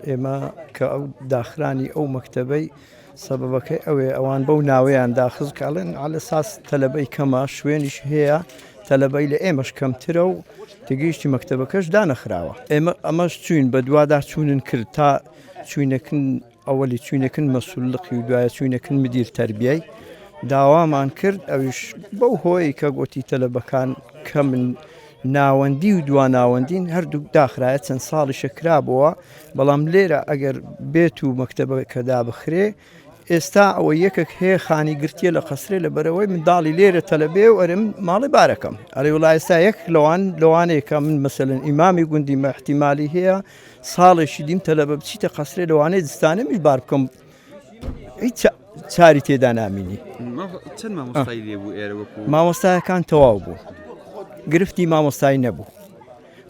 ئێمە کە ئەو داخرانی ئەو مەکتەبەی سەبەبەکەی ئەوێ ئەوان بەو ناوەیان داخز کاڵێن على ساس تەلەبەی کەمە شوێنیش هەیە تەلەبەی لە ئێمەش کەمترە و تگەیشتی مەکتەبەکەش دانەخراوە ئێمە ئەمەش چوین بە دوادا چوونن کرد تا چوینەکن ئەوەلی چوینەکن مەسولقی و دوایە چوینەکن مدیر تربیای داوامان کرد ئەوش بەو هۆی کە گوتی تەلەبەکان کەمن ناوەندی و دوا ناوەندین هەردووک داخرایە چەند ساڵیشە کرابووە بەڵام لێرە ئەگەر بێت و مەکتتەبەکە دابخرێ ئێستا ئەوە یەکێک هەیە خانی گرتیە لە قەسرێ لە بەرەوەی منداڵی لێرە تەلەبێ و ئەرم ماڵی بارەکەم ئەرێ وڵا ئێستا یەک لەوان لەوانەیەکە من مەسەن ئیمامی گوندی مەحتیمالی هەیە ساڵێکی دیم تەلەبە بچیتە قەسرێ لەوانەیە دستانە میش بار بکەم هیچ چاری تێدا نامینی مامۆستایەکان تەواو بوو گرفتی مامۆستای نەبوو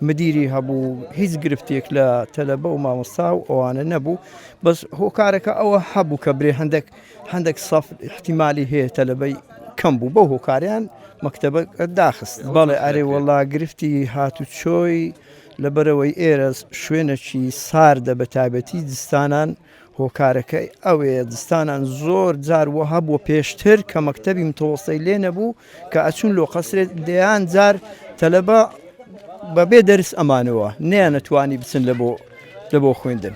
مدیری هەبوو هیچ گرفتێک لە تەلەبە و مامۆستا و ئەوانە نەبوو بەس هۆکارەکە ئەوە هەبوو کە برێ هەندێک هەندێک سەف احتیممالی هەیە تەلەبەی کەم بوو بەو هۆکاریان مەکتتەبە داخست بەڵێ ئەرێ وەڵا گرفتی هاتو چۆی لەبەرەوەی ئێرە شوێنەکی ساردە بە تابەتی زستانان هۆکارەکەی ئەوەیە دزتانان زۆر جار وە هەبووە پێشتر کە مەکتەبی متەوەستەی لێ نەبوو کە ئەچوون لۆ قەسرێ دەیان جار تەلەبە بەبێ دەرس ئەمانەوە نەیانەتوانی بچن لە بۆ لە بۆ خوێندن.